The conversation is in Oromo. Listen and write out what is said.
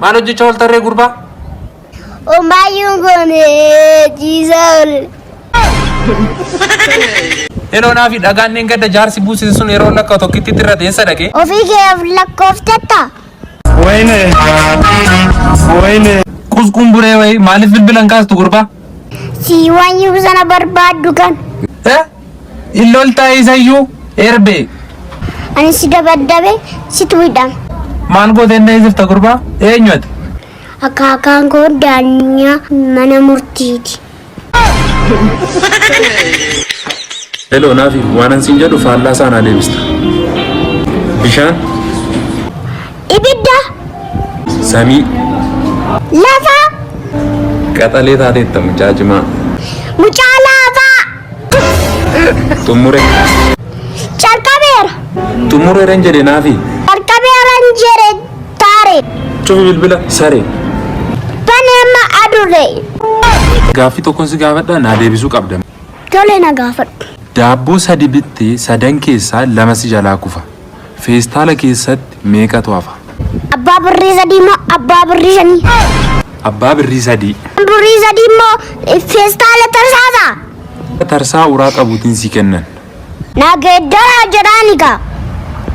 Maal hojjechaa ooltarree gurbaa? Omaayyuun kun ciisaa oole. Yeroo naafi dhagaan niin gadda jaarsi buusise sun yeroo lakka tokkitti irra teessa dhaqee. Ofii keef lakkooftatta. Wayne. Wayne. Qusquun buree wayii maaliif bilbilan kaastu gurbaa? Si waan sana barbaaddu kan. Eh? Hin loltaa isayyuu erbee. Ani si dabaddabe situ hidham. Maal gooteen ta'ee jirta gurbaa? Eenyu ati? Akaakaan koo daanyaa mana murtiiti. Heloo naafi waanan siin jedhu faallaa isaa naa deebista. Bishaan, Ibidda samii, lafa qaxalee taateetta mucaa cimaa. mucaa Xumure. Calqabeera. Xumureera hin jedhe naafi. Calqabeera hin jedhe taare. Cufi bilbila sare. Bane amma adurre. Gaaffii tokkon si gaafadha naa deebisuu qabda. Tole na gaafadhu. Daabboo sadi bittee sadan keessaa lama si jalaa kufa. Feestaala keessatti meeqatu hafa? Abbaa birrii sadii moo abbaa birrii shanii? Abbaa birrii sadii. Abbaan birrii sadii immoo feestaala tarsaasa. Tarsaa uraa qabuutiin si kennan. Na geeddaraa jedhaani gaa.